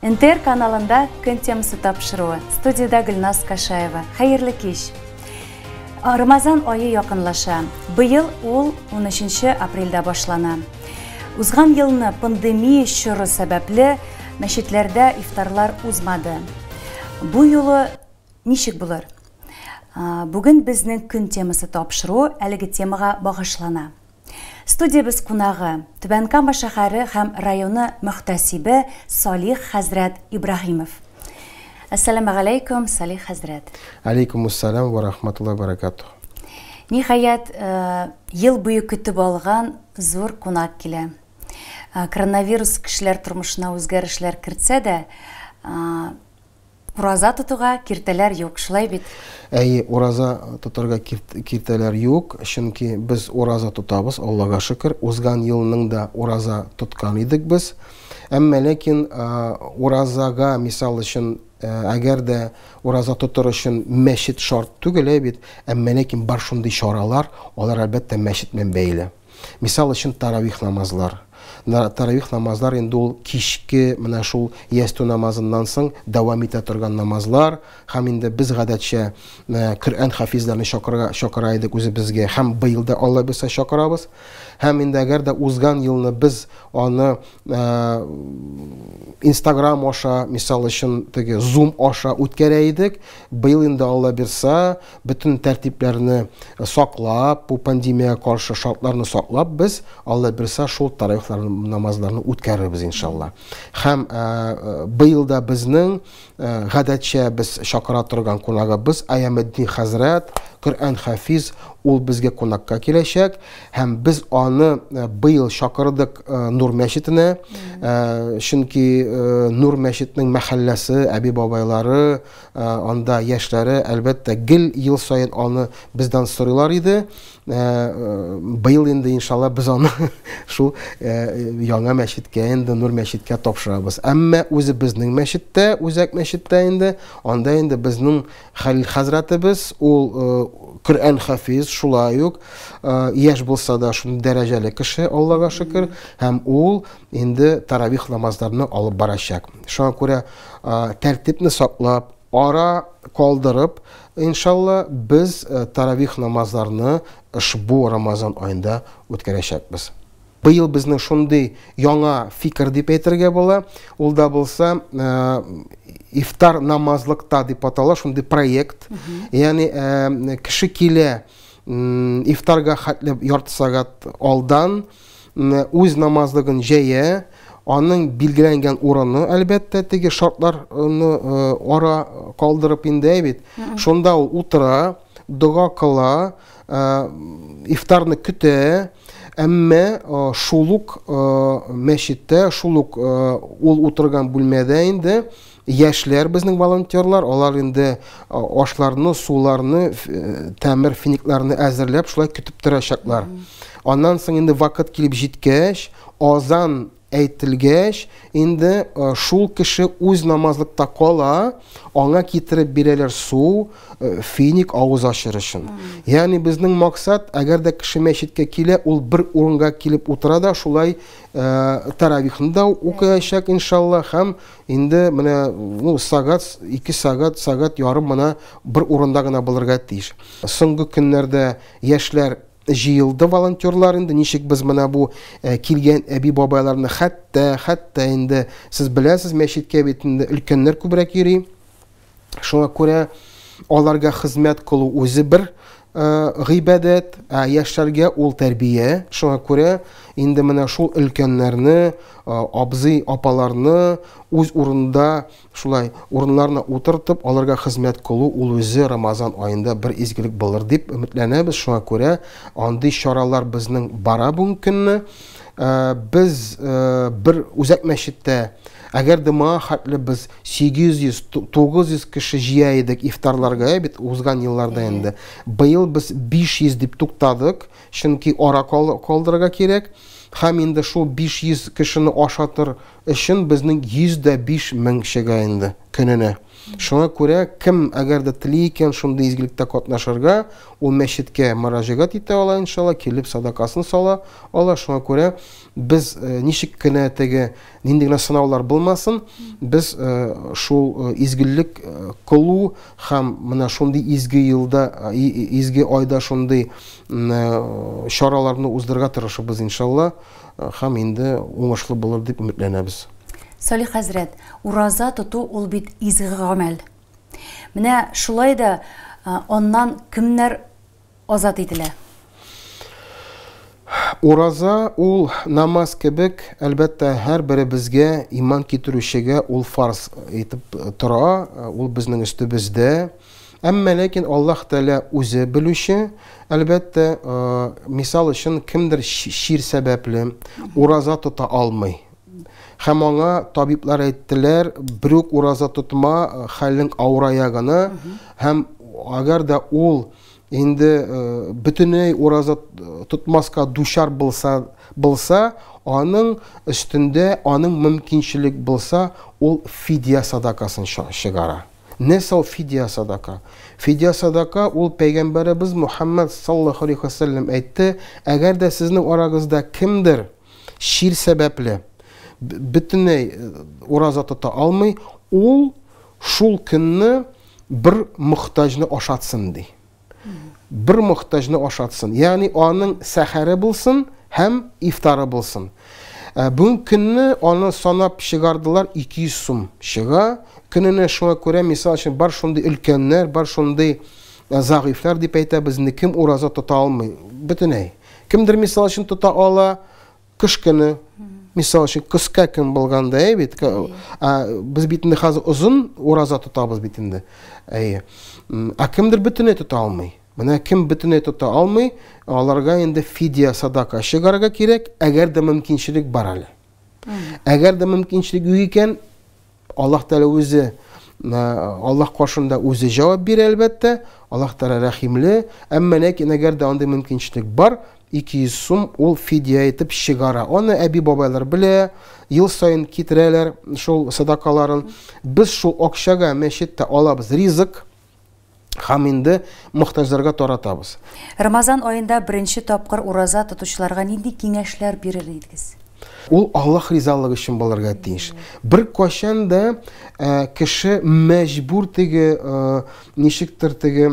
НТР каналында көн темасы тапшыруы. Студиядә Гөлназ Кашаева. Хәерле кич. Рамазан айы якынлаша. Быел ул 13 апрельдә башлана. Узган елны пандемия чоры сәбәпле мәчетләрдә ифтарлар узмады. Бу юлы ничек булыр? Бүген безнең көн темасы тапшыру әлеге темага багышлана. Студиябез кунагы, Түбән Кама шәһәре һәм районы мөхтәсибе Салих хәзрәт Ибраһимов. Әссәламә галәйкүм, Салих хәзрәт. Алейкумуссалам ва рахматуллаһи ва баракатуһ. Ниһаять, э, ел буе көтеп алган зур кунак килә. Э, коронавирус кешеләр тормышына үзгәрешләр кертсә дә, э, Ураза тотуга киртәләр юк, шулай бит? Әйе, ураза тотарга киртәләр юк, чөнки без ураза тотабыз, Аллага шөкер. Узган елның да ураза тоткан идек без. Әмма ләкин уразага, мисал өчен, әгәр дә ураза тотыр өчен мәчет шарт түгел, әйе бит, әмма ләкин бар шундый чаралар, алар әлбәттә мәчет белән бәйле. Мисал өчен, таравих намазлар. Таравих намазлар инде ул кичке менә шул ястү намазыннан соң дәвам итә торган намазлар. Һәм инде без гадәтчә Коръән хафизләрне чакырга чакыра идек үзебезгә һәм быел да Алла бирсә чакырабыз. Һәм инде әгәр дә узган елны без аны Instagram аша, мисал өчен, теге Zoom аша үткәрә идек, быел инде Алла бирсә, Бөтен тәртипләрне саклап, бу пандемиягә каршы шартларны саклап, без Алла бирса шул тараихлар намазларны үткәрербез иншалла. Һәм быел да безнең гадәтчә без чакыра торган кунагыбыз Аямеддин хәзрәт, Коръән хафиз, ул безгә кунакка киләчәк һәм без аны быел чакырдык Нур мәчетенә. Чөнки Нур мәчетнең мәхәлләсе, әби-бабайлары Анда яшьләре, әлбәттә, гел ел саен аны бездән сорыйлар иде. Быел инде, иншалла, без аны шул яңа мәчеткә инде, Нур мәчеткә тапшырабыз. Әмма үзебезнең мәчеттә, Үзәк мәчеттә инде, анда инде безнең Хәлил хәзрәтебез, ул Коръән хафиз, шулай ук яшь булса да шундый дәрәҗәле кеше, Аллага шөкер, һәм ул инде таравих намазларны алып барачак. Шуңа күрә тәртипне саклап, ара калдырып, иншалла, без таравих намазларны ошбу Рамазан аенда үткәрәчәкбез. Быел безнең шундый яңа фикер дип әйтергә була. Ул да булса ифтар намазлыкта дип атала, шундый проект. Ягъни кеше килә ифтарга хәтле ярты сәгать алдан үз намазлыгын җәя, аның билгеләнгән урыны, әлбәттә, теге шартларны ара калдырып инде бит. Шунда ул утыра, дога кыла, ифтарны көтә, әмма шул ук мәчеттә, шул ук ул утырган бүлмәдә инде Яшьләр безнең волонтерлар, алар инде ашларны, суларны, тәмер финикларны әзерләп шулай көтеп торачаклар. Аннан соң инде вакыт килеп җиткәч, азан әйтелгәч, инде шул кеше үз намазлыкта кала, аңа китереп бирәләр су, финик авыз ачыр өчен. Ягъни безнең максат, әгәр дә кеше мәчеткә килә, ул бер урынга килеп утыра да, шулай таравихны да укыячак, иншалла, һәм Инде менә ну сагат, ике сагат, сагат ярым мына бер урында гына булырга тиеш. Соңгы көннәрдә яшьләр җыелды волонтерлар инде ничек без менә бу э, килгән әби бабайларны хәтта хәтта инде сез беләсез мәчеткә бит инде өлкәннәр күбрәк йөри Шуңа күрә аларга хезмәт кылу үзе бер гыйбадәт, ә яшьләргә ул тәрбия. Шуңа күрә инде менә шул өлкәннәрне, абзый, апаларны үз урында шулай урыннарына утыртып, аларга хезмәт кылу ул үзе Рамазан аенда бер изгелек булыр дип өметләнәбез. Шуңа күрә андый чаралар безнең бара бүгенге көнне. Э, без э, бер үзәк мәчеттә әгәр дә моңа хәтле без 800-900 кеше җыя идек ифтарларга э, бит узган елларда инде быел без 500 дип туктадык чөнки ара калдырырга кирәк һәм инде шул 500 кешене ашатыр өчен безнең 105 мең чыга инде көненә Шуңа күрә кем әгәр дә тели икән шундый изгелектә катнашырга, ул мәчеткә мөрәҗәгать итә ала, иншалла, килеп садакасын сала ала. Шуңа күрә без э, ничек кенә теге нинди генә сынаулар булмасын, без э, шул э, изгелек кылу һәм менә шундый изге елда, изге айда шундый чараларны уздырырга тырышыбыз, иншалла. Һәм инде уңышлы булыр дип өметләнәбез. Салих хәзрәт, ураза тоту ул бит изге гамәл. Менә шулай да аннан кемнәр азат ителә? Ураза ул намаз кебек, әлбәттә, һәрберебезгә, иман китерүчегә ул фарз итеп тора, ул безнең өстебездә. Әмма ләкин Аллаһ Тәгалә үзе белүче, әлбәттә, мисал өчен кемдер чир сәбәпле ураза тота алмый. Һәм аңа табиблар әйттеләр, бер үк ураза тотма, хәлең авырая гына, һәм әгәр дә ул инде бөтенләй ураза тотмаска дучар булса, булса, аның өстендә, аның мөмкинчелек булса, ул фидия садакасын чыгара. Нәрсә ул фидия-садака? Фидия-садака ул пәйгамбәребез Мухаммад саллаллаһу алейһи ва сәлләм әйтте, әгәр дә сезнең арагызда кемдер чир сәбәпле бөтенләй ураза тота алмый, ул шул көнне бер мохтаҗны ашатсын ди. бер мохтаҗны ашатсын. Ягъни аның сәхәре булсын һәм ифтары булсын. Э, бүгенге көнне аны санап чыгардылар 200 сум чыга. Көненә шуңа күрә, мисал өчен, бар шундый өлкәннәр, бар шундый э, зәгыйфьләр дип әйтәбез, инде кем ураза тота алмый бөтенләй. Кемдер мисал өчен тота ала, Кыш көне, мисал өчен, кыска көн булганда, әй бит, без бит инде хәзер озын ураза тотабыз бит инде. Әйе. Ә кемдер бөтенләй тота алмый. Менә кем бөтенләй тота алмый, аларга инде фидия садака чыгарга кирәк, әгәр дә мөмкинчелек бар әле. Әгәр дә мөмкинчелек юк икән, Аллаһ Тәгалә үзе Аллаһ каршында үзе җавап бирә, әлбәттә. Аллаһ Тәгалә рәхимле. Әмма ләкин әгәр дә андый мөмкинчелек бар, 200 сум ул фидия итеп чыгара. Аны әби-бабайлар белә, ел саен китерәләр шул садакаларын. Без шул акчага мәчеттә алабыз ризык. һәм инде мохтаҗларга таратабыз. Рамазан аенда беренче тапкыр ураза тотучыларга нинди киңәшләр бирер идегез? Ул Аллаһ ризалыгы өчен булырга тиеш. Беркайчан да кеше мәҗбүр теге, ничектер теге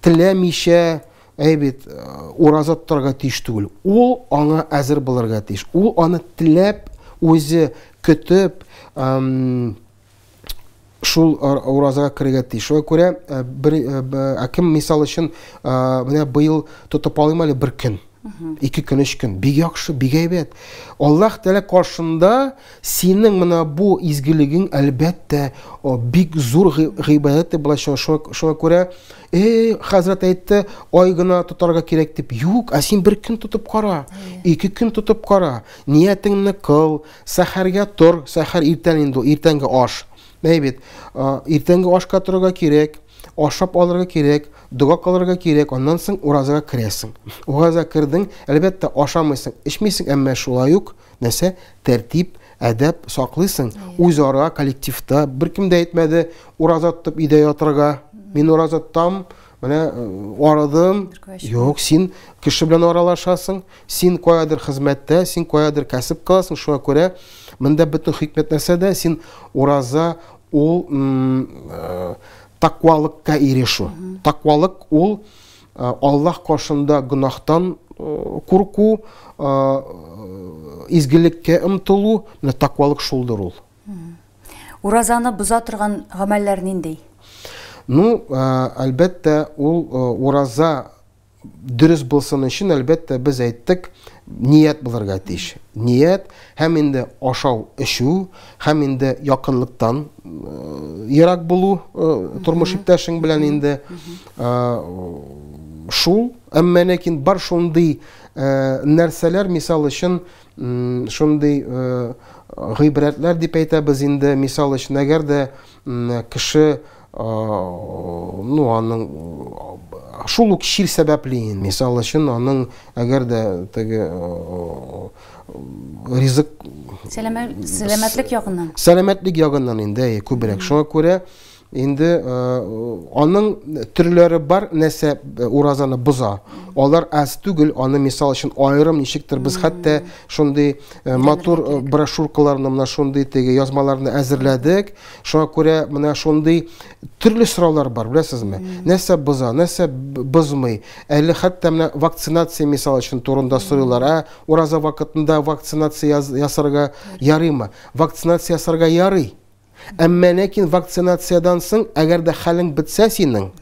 теләмичә әй бит ураза тотарга тиеш түгел. Ул аңа әзер булырга тиеш. Ул аны теләп, үзе көтеп, шул уразага керергә тиеш. Шуңа күрә э, бер э, ә кем мисал өчен э, менә быел тотып алыйм әле бер көн. Ике көн, өч көн. Бик яхшы, бик әйбәт. Аллаһ Тәгалә каршында синең менә бу изгелегең әлбәттә бик зур гыйбадәт дип булачак. Шуңа күрә эй хәзрәт әйтте, ай гына тотарга кирәк дип. Юк, ә син бер көн тотып кара. Ике көн тотып кара. Ниятеңне кыл. Сәхәргә тор, сәхәр иртән инде ул, иртәнге аш. Әй бит, иртәнге ашка торырга кирәк, ашап алырга кирәк, дога кылырга кирәк, аннан соң уразага керәсең. Ураза кердең, әлбәттә, ашамыйсың, эчмисең, әмма шулай ук нәрсә? Тәртип, әдәп саклыйсың. Үзара коллективта беркем дә әйтмәде, ураза тотып өйдә ятырга. Мин ураза тотам, менә э, арадым. Юк, син кеше белән аралашасың, Син каядыр хезмәттә, син каядыр кәсеп кыласың, шуңа күрә монда бөтен хикмәт нәрсәдә? Син ураза ул э, таквалыкка ирешү. Таквалык ул э, Аллаһ каршында гөнаһтан э, курку, изгелеккә омтылу, менә таквалык шулдыр ул. Уразаны боза торган гамәлләр нинди? Ну, әлбәттә, ул ураза дөрес булсын өчен, әлбәттә, без әйттек, ният булырга тиеш. Ният һәм инде ашау, эчү, һәм инде якынлыктан э, ерак булу э, тормыш иптәшең белән инде э, шул, әмма ләкин бар шундый нәрсәләр, мисал өчен, шундый гыйбрәтләр дип әйтәбез инде, мисал өчен, әгәр дә кеше ну аның шул ук чир сәбәпле мисал өчен аның әгәр дә теге ризык сәламәтлек ягыннан сәламәтлек ягыннан инде күбрәк шуңа күрә инде аның төрләре бар нәрсә уразаны боза алар аз түгел аны мисал өчен аерым ничектер без хәтта шундый матур брошюркаларны менә шундый теге язмаларны әзерләдек Шуңа күрә менә шундый төрле сораулар бар, беләсезме? Нәрсә боза, нәрсә бозмый? Әле хәтта менә вакцинация мисал өчен турында сорыйлар. Ә ураза вакытында вакцинация ясарга ярыймы? Вакцинация ясарга ярый. Әмма ләкин вакцинациядән соң, әгәр дә хәлең бетсә синең,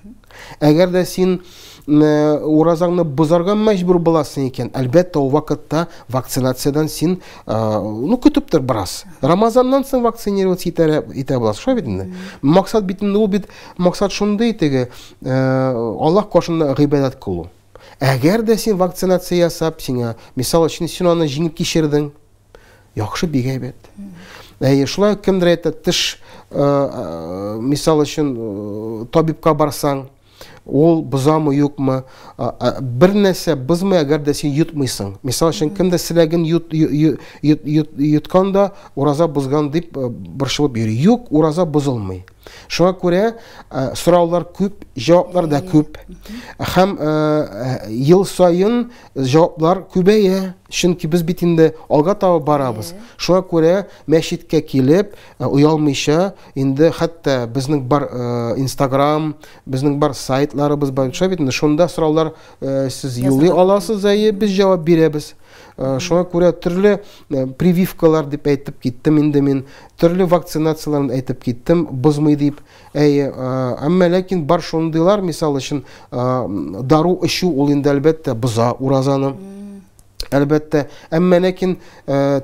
Әгәр дә син э, уразаңны бозарга мәҗбүр буласың икән, әлбәттә, ул вакытта вакцинациядән син э, ну көтеп тор бераз. Рамазаннан соң вакцинироваться итә итә буласың, шулай бит инде. Максат бит инде ул бит максат шундый теге э, Аллаһ каршында гыйбадәт кылу. Әгәр дә син вакцинация ясап, сиңа мисал өчен син аны җиңеп кичердең, Яхшы бик әйбәт. Әйе, шулай кемдер әйтә, теш э, э, мисал өчен э, табибка барсаң, ул бозамы юкмы бер нәрсә бозмый әгәр дә син йотмыйсың мисал өчен кемдер селәген йот, йот, йот, йот, йоткан да ураза бозган дип борчылып йөри юк ураза бозылмый шуңа күрә ә, сораулар күп җаваплар да күп һәм ә, ел саен Җаваплар күбәя, чөнки без бит инде алга таба барабыз. Шуңа күрә мәчеткә килеп, э, оялмыйча, инде хәтта безнең бар э, Instagram, безнең бар сайтларыбыз бар, шулай бит инде шунда сораулар э, сез юлый аласыз, әйе, без җавап бирәбез. Э, Шуңа күрә төрле э, прививкалар дип әйтеп киттем инде мин, төрле вакцинацияләрне әйтеп киттем, бозмый дип. Әйе, әмма ләкин бар шундыйлар, мисал өчен, дару эчү ул инде әлбәттә боза уразаны. Әлбәттә, әмма ләкин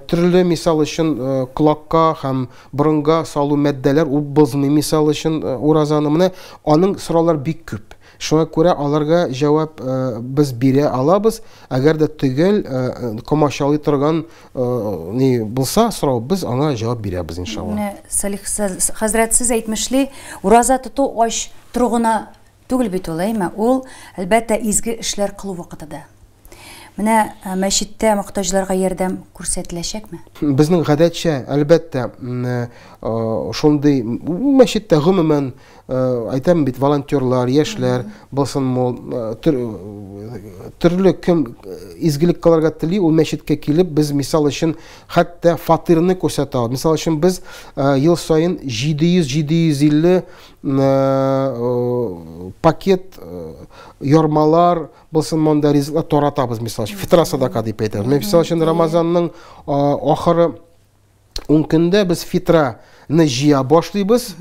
төрле мисал өчен колакка һәм борынга салу матдәләр ул бозмый мисал өчен уразаны. Менә аның сораулар бик күп. Шуңа күрә аларга җавап без бирә алабыз, әгәр дә төгәл комачалый торган ни булса сорау, без аңа җавап бирәбез иншалла. Менә Салих хәзрәт сез әйтмешли, ураза тоту ач тору гына түгел бит ул, әйме? Ул, әлбәттә, изге эшләр кылу вакыты да. Менә мәчеттә мохтаҗларга ярдәм күрсәтеләчәкме? Безнең гадәтчә, әлбәттә, шундый мәчеттә гомумән әйтәм бит, волонтерлар, яшьләр булсын мул, төрле кем изгелек кыларга тели, ул мәчеткә килеп, без мисал өчен хәтта фатирны күрсәтә алабыз. Мисал өчен без ел саен 700-750 пакет ярмалар Булсын монда ризыклар таратабыз, мисал өчен, фитра садака дип әйтәбез. Мен мисал өчен Рамазанның ахыры 10 көндә без фитраны җыя башлыйбыз.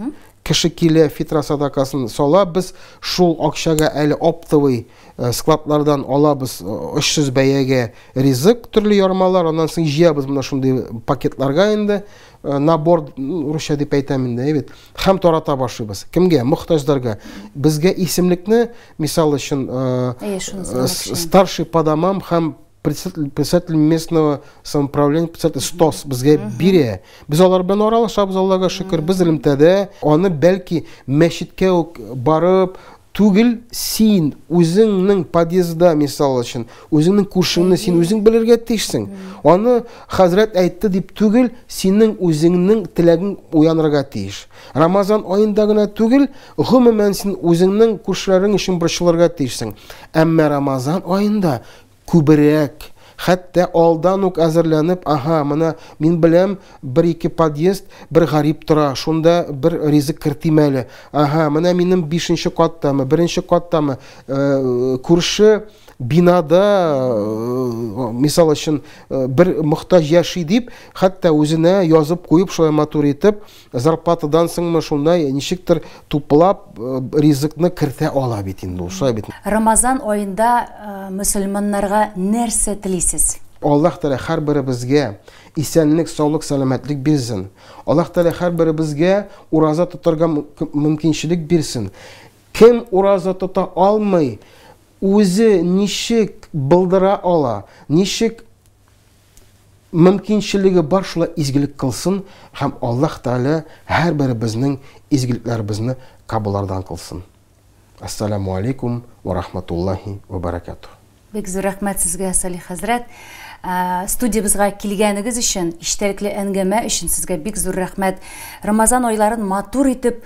Кеше килә, фитра садакасын сала, без шул акчага әле оптовый э, складлардан алабыз 300 э, бәягә ризык, төрле ярмалар, аннан соң җыябыз менә шундый пакетларга инде, э, набор русча дип әйтәм инде, әйбит. Хәм тарата башлыйбыз. Кемгә? Мохтаҗларга. Безгә исемлекне Мисал өчен, старший по домам һәм председатель местного самоуправления председатель стос безгә бирә без алар белән аралашабыз аллага шөкер без элемтәдә аны бәлки мәчеткә үк барып түгел син үзеңнең подъездда мисал өчен үзеңнең күршеңне син үзең белергә тиешсең аны хәзрәт әйтте дип түгел синең үзеңнең теләгең уянырга тиеш Рамазан аенда гына түгел, гомумән син үзеңнең күршеләрең өчен борчылырга тиешсең. Әмма Рамазан аенда күбрәк, хәтта алдан ук әзерләнеп, аһа, менә мин беләм, бер-ике подъезд, бер гарип тора, шунда бер ризык кертим әле. Аһа, менә минем бишенче каттамы, беренче каттамы, э, күрше бинада, э, мисал өчен, э, бер мохтаҗ яши дип, хәтта үзенә язып куеп, шулай матур итеп, Зарплатадан соңмы шунда ничектер туплап ризыкны кертә ала бит инде ул, шулай бит. Рамазан аенда мөселманнарга нәрсә телисез? Аллаһ Тәгалә һәрберебезгә исәнлек, саулык, сәламәтлек бирсен. Аллаһ Тәгалә һәрберебезгә ураза тотарга мөмкинчелек бирсен. Кем ураза тота алмый, үзе ничек былдыра ала, ничек Мөмкинчелеге бар шулай изгелек кылсын һәм Аллаһ Тәгалә һәрберебезнең изгелекләребезне кабуллардан кылсын. Әссәламү алейкум вә рахматуллаһи вә бәрәкәтүһ. Бик зур рәхмәт сезгә, Салих хәзрәт. Студиябезгә килгәнегез өчен, иштәлекле әнгәмә өчен сезгә бик зур рәхмәт. Рамазан айларын матур итеп